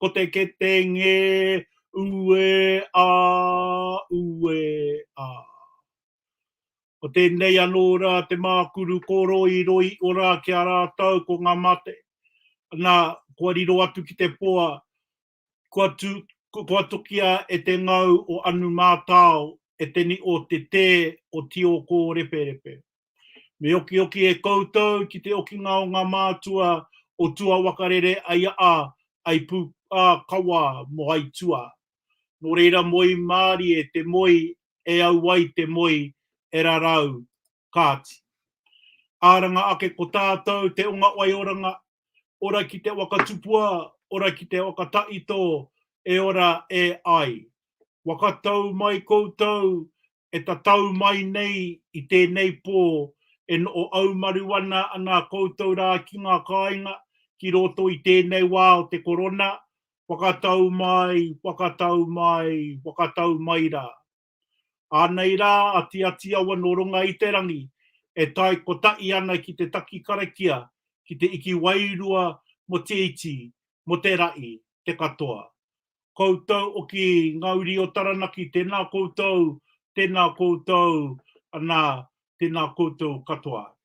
Ko te kete ngē, uē ā, uē ā. Ko tēnei anō rā te mākuru kōroiroi o rā ki a rātou ko ngā mate. Nā, kua riro atu ki te poa, kua tū, kua tukia e te ngau o Anu Mātao, e te ni o te tē o Tiokōreperepe. Me okioki e koutou ki te okinga o nga mātua o tua wakarere ai a ai pu a kawa mo ai tua. No reira moi mārie te moi e au ai te moi e rarau Kāti. Aranga ake ko tātou te onga waioranga, ora ki te waka tupua, ora ki te waka taito e ora e ai. Waka tau mai koutou e tatau mai nei i tēnei pō e noʻoaumaru ana nā koutou rā ki ngā kāinga ki roto i tēnei wā o te korona, whakatau mai, whakatau mai, whakatau mai rā. Ānei rā a Tiati Awa nō runga i te rangi e tae kotaʻi ana ki te taki karakia, ki te iki wairua mo Te Iti, mo Te Raʻi, te katoa. koutou o ki nga uri o Taranaki tena koutou tena koutou ana tena koutou katoa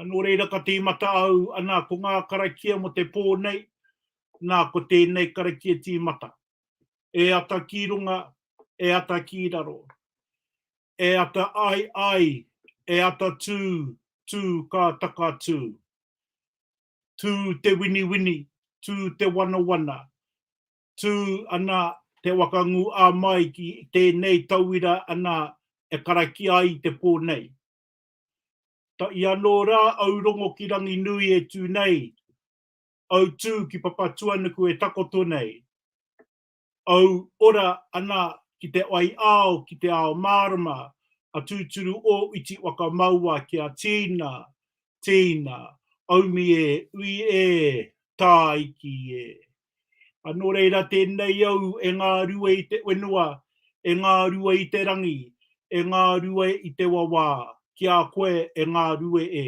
no reira ka timata au ana ko nga karakia mo te po nei na ko tenei karakia timata e ata ki runga e ata ki raro e ata ai ai e ata tu tu ka taka tu tū te winiwini, tū te wanawana, tū ana Te Waka Ngū ā Mai ki tēnei tauira ana e karakia ai i te pō nei. Ta i anō rā au rongo ki Ranginui e tū nei, au tū ki Papatuanuku e takoto nei. Au ora ana ki te wai ao ki te ao mārama a tūturu ō iti waka maua ki a Tīna, Tīna, aumi e, ui e, tā iki e. A nō reira tēnei au e ngā rua i te wenua, e ngā rua i te rangi, e ngā rua i te wawā, ki a koe e ngā rue e.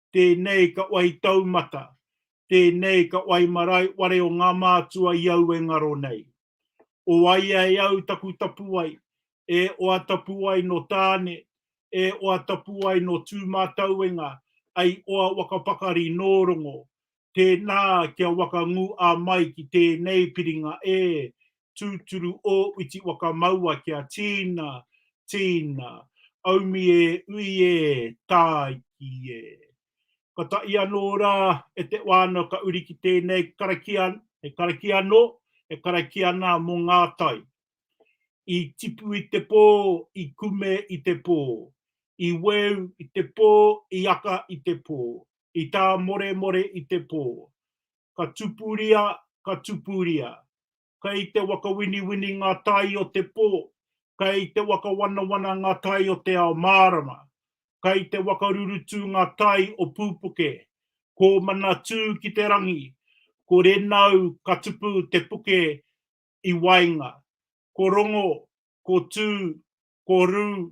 tēnei ka wai taumata, tēnei ka wai marae ware o ngā mātua i au e ngaro nei. O waia e au taku tapuwae, e oa tapuwae no Tāne, e oa tapuwae no Tūmātauenga, ai oa waka pakari nō Rongo, Tēnā kia waka ngū a mai ki tēnei piringa e, tūturu ō uti waka maua kia tīna, tīna, aumi e ui e, tāiki e. Ka taʻi anō rā e te wānau ka uri ki tēnei karakia, he karakia anō, he karakia nā mō ngā tai. I tipu i te pō, i kume i te pō, i weu i te pō, i aka i te pō, i tā Moremore i te pō. Ka tupuria, ka tupuria. Kei te wakawiniwini ngā tai o te pō, kei te wakawanawana ngā tai o te ao mārama, kei te wakarurutu ngā tai o Pūpuke, ko Manatū ki te rangi, ko Renau ka tupu te puke i waenga, ko Rongo, ko Tū, ko Rū,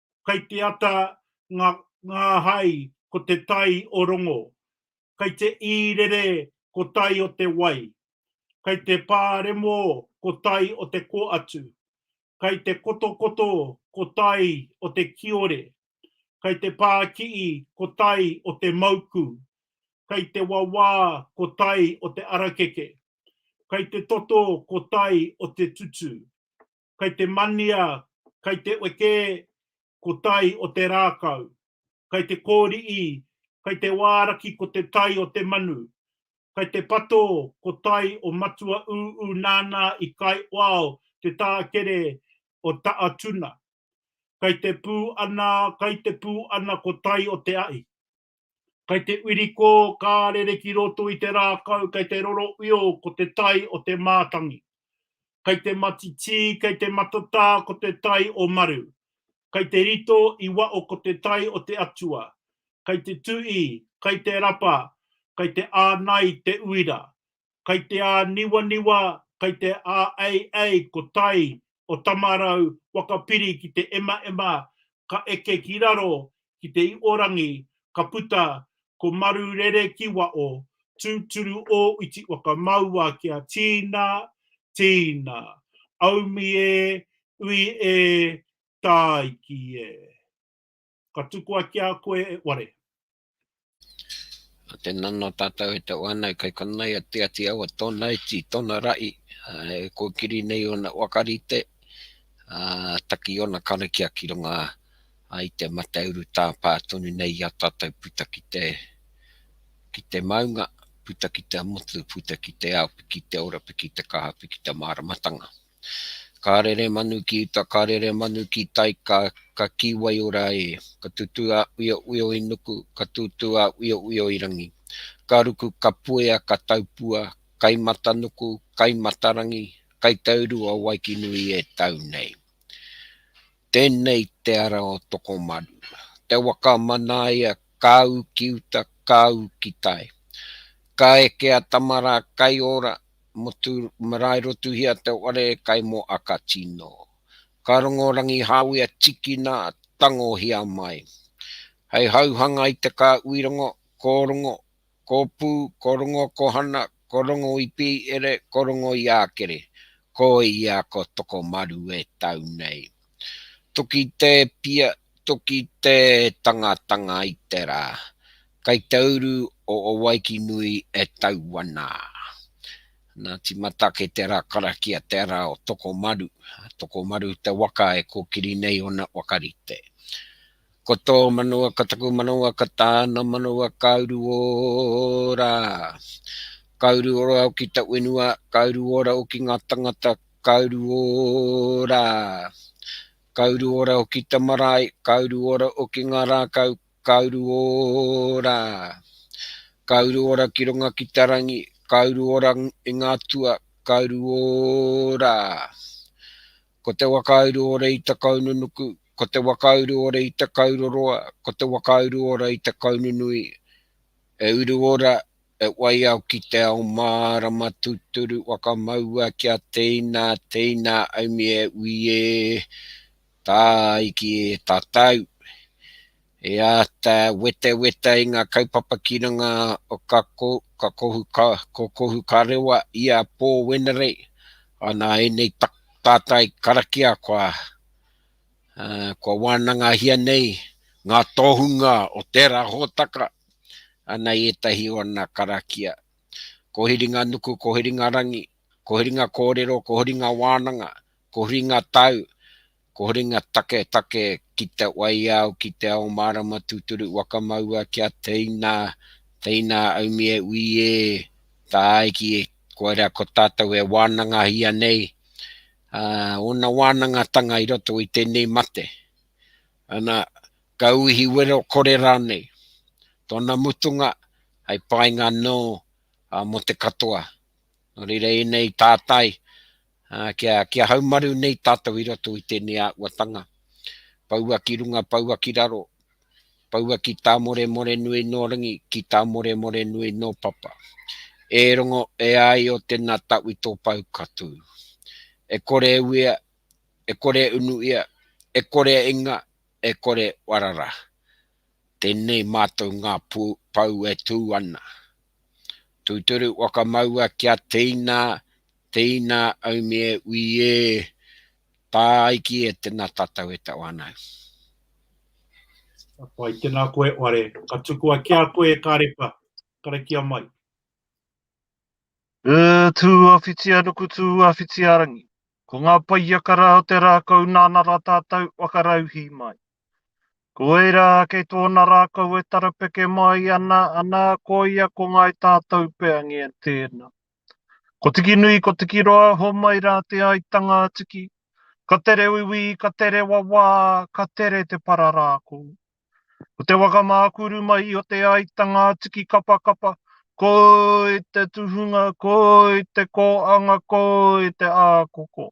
Kai te ata nga nga hai ko te tai o rongo. Kai te irere ko tai o te wai. Kai te pa remo ko tai o te ko atu. Kai te kotokoto ko tai o te kiore. Kai te pa kii ko tai o te mauku. Kai te wawa ko tai o te arakeke. Kai te toto ko tai o te tutu. kai te mania, kai te wekē ko tai o te rākau, kai te kōriʻi, kai te wāraki ko te tai o te manu, kai te patō ko tai o matua ūū nānā i kai wao te tākere o Taʻatuna, kai te pū ana, kai te pū ana ko tai o te aʻi. Kai te wirikō ka rere ki roto i te rākau kai te roro uio ko te tai o te mātangi. Kai te matitī kai te matatā ko te tai o Maru. Kai te rito i waʻo ko te tai o te atua. Kai te tuʻi, kai te rapa, kai te ānai te uira. kai te āniwaniwa, kai te āeiei ko tai o Tamarau waka piri ki te emaema ka eke ki raro ki te iorangi ka puta ko Maru Rerekiwao tūturu ō iti waka maua kia tīna, tīna, aumi e, ui e, tāiki e. Ka tukua ki a koe e ware. Nā te nana tātou e tau ana, e kaikona ai a Te Ati Awa tōna iti, tōna rahi, e kōkiri nei ōna waka rite, ā, taki ōna karakia ki runga i te mate urutā pā tonu nei i a tātou puta ki te, ki te maunga, puta ki te motu, puta ki te ao, piki te ora, piki te kaha, piki te māramatanga. Ka rere manu ki uta, ka rere manu ki tai, ka, ka kī waiora e. Ka tutū a Uiouio i nuku, ka tūtū a Uiouio i rangi. Ka ruku, ka puea, ka taupua, kai matanuku, kai matarangi, kai tauru a Waikinui e tau nei. Tēnei te ara o Tokomaru. Te waka a Manaia, ka ū ki uta, ka ū ki tai. Ka eke a Tamara, kai ora, motu marae rotuhia te whare kai mo aka tino. Ka rongo Rangihāwea tikina tangohia mai. Hei hauhanga i te ka uirongo, ko rongo, ko pu, ko rongo ko hana, ko rongo i pi ere, ko rongo i akere. Ko ia ko Tokomaru e tau nei. Toki te pia, Toki te tangatanga i te ra, kai te uru o Owaiki-nui e tau ana. Na timata kei te ra karakia te ra o Tokomaru. Tokomaru te waka e kokiri nei ona wakarite. Ko to manawa ka taku manawa ka tana manawa ka uru ora. Ka uru ora au ki ta wenua, ka uru ora au ki nga tangata, ka uru ora. Ka uru ora o ki ta marae, ka uru ora o ki nga rakau, ka uru ora. Ka uru ora ki runga ki ta rangi, ka uru ora i nga tua, ka uru ora. Ko te wakauru ora i ta kaununuku, ko te wakauru ora i ta kauroroa, ko te wakauru ora i ta kaununui, e uru ora He waiao ki te ao mārama tūturu whakamaua kia teina, teina aumi e ui e, tāiki e tatau. E āta weteweta i ngā kaupapa ki runga o ka kokohu ka rewa i a Paul Wenerei ana ēnei tātai karakia kua wānangahia nei ngā tohunga o tērā hōtaka. ana i ētahi o ana karakia. Ko Hiringanuku, ko Hiringarangi, ko Hiringa Kōrero, ko Hiringa Wānanga, ko Hiringa Tau, ko Hiringa Taketake ki te waiao, ki te ao mārama tūturu waka maua kia teina, teina aumi e ui e tāai ki e kua rea ko tātou e wānangahia nei ōna wānangatanga i roto i tēnei mate. Ana ka uihi wero kore rānei. Tōna mutunga hei painga nō mō te katoa. Nō reira ēnei tātai kia haumaru nei tātou i roto i tēnei āhuatanga. Poua ki runga, poua ki raro, poua ki tā Moremorenui nō rangi, ki tā Moremorenui nō papa. E rongo e ai o tēnā tau i tō pau ka tū. E kore e uia, e kore e unu ia, e kore e inga, e kore warara. Tenei matou nga pou e tu ana. Tuturu wakamaua kia teina, teina aumie ui e, taiki e tena tatou e tau ana. Ka pai, tena koe ware, ka tukua ki a koe e Karepa, karakia mai. Tua whitianuku, tua whitiarangi. Ko ngā paiaka rā o te rākau nāna rā tātou whakarauhī mai. Ko ērā kei tōna rākau e tarapeke māi ana, anā, koia ko Ngāi Tātou Peangi e tēna. Ko Tikinui, ko Tikiroa, homai rā te aitanga a Tiki, ka tere uiui, ka tere wawā, ka tere te pararākau. Ko te waka mākuru mai i o Te Aitanga atu ki Kapakapa, koi te tuhunga, koi te kōanga, koi te ākoko.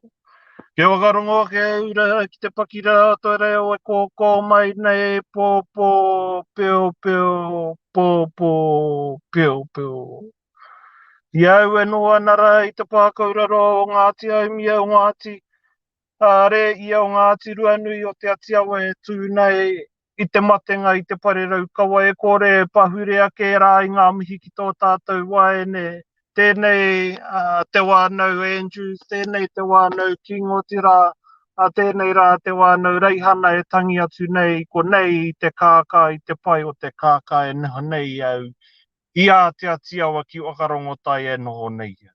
Kia waka rongo ake e ura ki te paki rā toi reo e kōkō mai nei, pōpō, peopeo, pōpō, peopeo. I au e noa ana rā i te pākauraro o Ngāti Aumia, o Ngāti Kāre ia o ngā ātiruanui o Te Atiawa e tū nei i te matenga i te pare raukawa e kore e pahure ake rā i ngā mihi ki tō tātou waeine, tēnei a Te Wānau Andrews, tēnei Te Wānau King, otirā, a tēnei rā a Te Wānau Reihana e tangi atu nei i konei i te kākā, i te pai o te kākā e noho nei au i ā Te Atiawa ki Whakarongotai e noho nei au.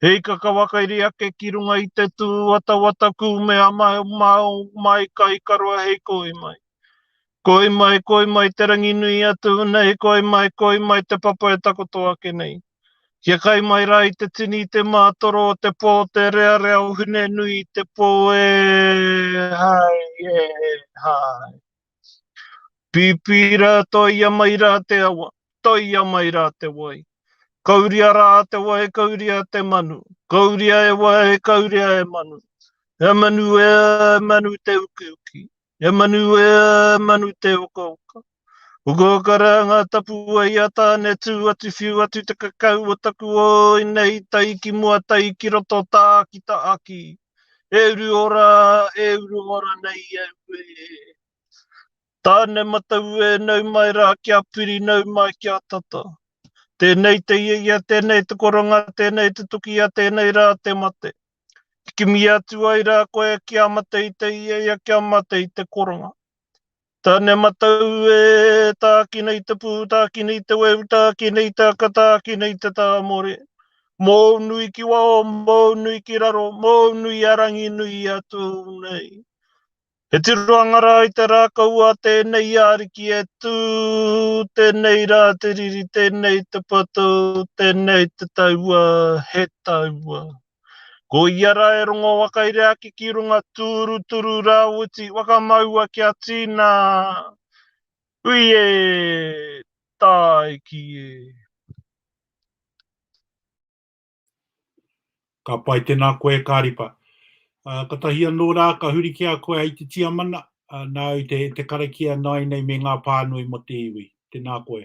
He ikaka wakairi ake ki runga i te tū watawata kūmea maumau mai ka ikaroa hei koi mai. Koi mai, koi mai te rangi nui a tū nei, koi mai, koi mai te papa e takoto ake nei. Kia kai mai rā i te tini, i te mātoro o te pō, te rearea o Hune nui i te pō, e hai, e hai. Pīpī rā, toia mai rā te awa, toia mai rā te wai. Kauria rā te wai, kauria te manu, kauria e wai, kauria e manu. He manu e, manu te ukiuki, he manu e, manu te ukauka. Ukauka rā ngā tapu wai a Tāne tū atu whiu atu te kakau o taku oi nei tai ki mua tai ki roto tā ki ta aki. E uru ora, e uru ora nei au e. Tāne matau e nau mai rā kia piri nau mai kia tata. Tēnei te ia ia, tēnei te koronga, tēnei te tukia, tēnei rā te mate. Kimi atu ai rā koe kia mate i te ia ia, kia mate i te koronga. Tane matau e, tāki nei te pū, tāki nei te weu, tāki nei te aka, tāki nei te tāmore. Mōu nui ki waho, mōu nui ki raro, mōu nui a rangi nui i a tū nei. He tiroanga rā i te rākau a tēnei i ariki e tū, tēnei rā te riri, tēnei te patou, tēnei te taua, he taua. Ko ia ra e rongo wakaire ake ki runga turuturu rawiti wakamaua kia tina. Hui e! Taiki e! Ka pai tena koe e Karipa. Katahi ano ra ka huri ki a koe ai te Tiamana, na au te karakia nainei me nga panui mo te iwi. Tena koe.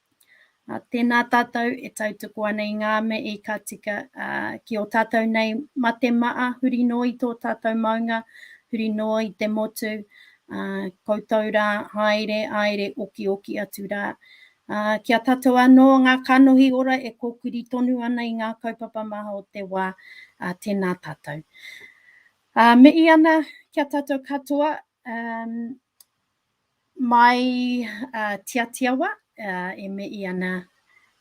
Ā, tēnā tātou e tautoko ana i ngā mea i ka tika, ā, ki ō tātou nei mate maʻa, huri noa i tō tātou maunga, huri noa i te motu, ā, koutou rā haere, haere okioki atu rā. Ā, ki a tātou anō ngā kanohi ora e kōkiri tonu ana i ngā kaupapa maha o te wā, ā, tēnā tātou. Ā, mihi ana ki a tātou katoa, ā, Mai uh, Tiatiawa, uh, e me i ana,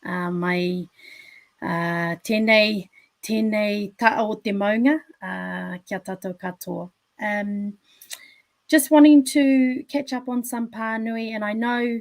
uh, mai uh, tēnei, tēnei taa o te maunga uh, ki a tātou katoa. Um, just wanting to catch up on some pānui, and I know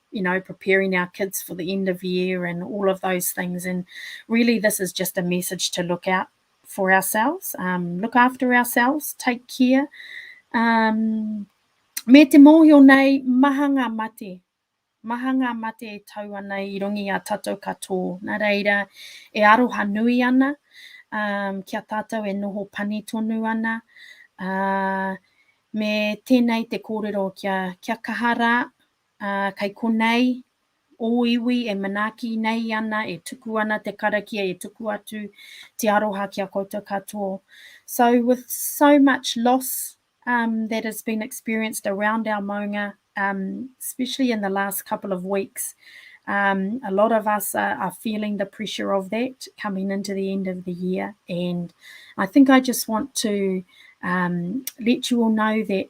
you know, preparing our kids for the end of year and all of those things. And really, this is just a message to look out for ourselves, um, look after ourselves, take care. Um, me te mōhio nei, maha ngā mate. Maha ngā mate e tau ana i rongi a tatou katoa. Nā reira, e aroha nui ana um, kia tātou e noho pani tonu ana. Uh, me tēnei te kōrero kia, kia kaha rā, Ā, kei konei ō iwi e manaaki nei ana, e tuku ana te karakia e tuku atu te aroha ki a koutou katoa. So with so much loss um, that has been experienced around our maunga, um, especially in the last couple of weeks, um, a lot of us are, are feeling the pressure of that coming into the end of the year. And I think I just want to um, let you all know that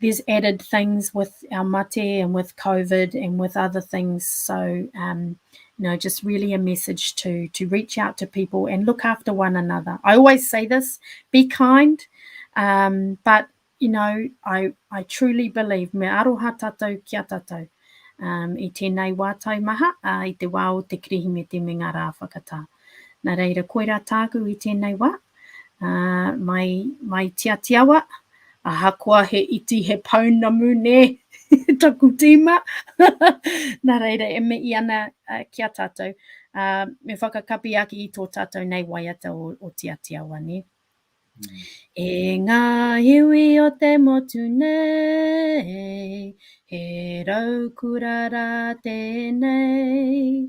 there's added things with our mate and with COVID and with other things. So, um, you know, just really a message to to reach out to people and look after one another. I always say this: be kind, um, but you know, I I truly believe me aroha tatou kia tatou. Um, i tēnei wā tau maha, a, i te wā o te kirihimete me ngā rā whakatā. Nā reira, koirā tāku i tēnei wā, mai mai tiatiawa ahakoa he iti he pounamu ne taku tima na reira e me i ana uh, ki a tatou uh, me whakakapi aki i to tatou nei waiata o, o tiatiawa ne mm. e nga iwi o te motu nei he rau kurara tenei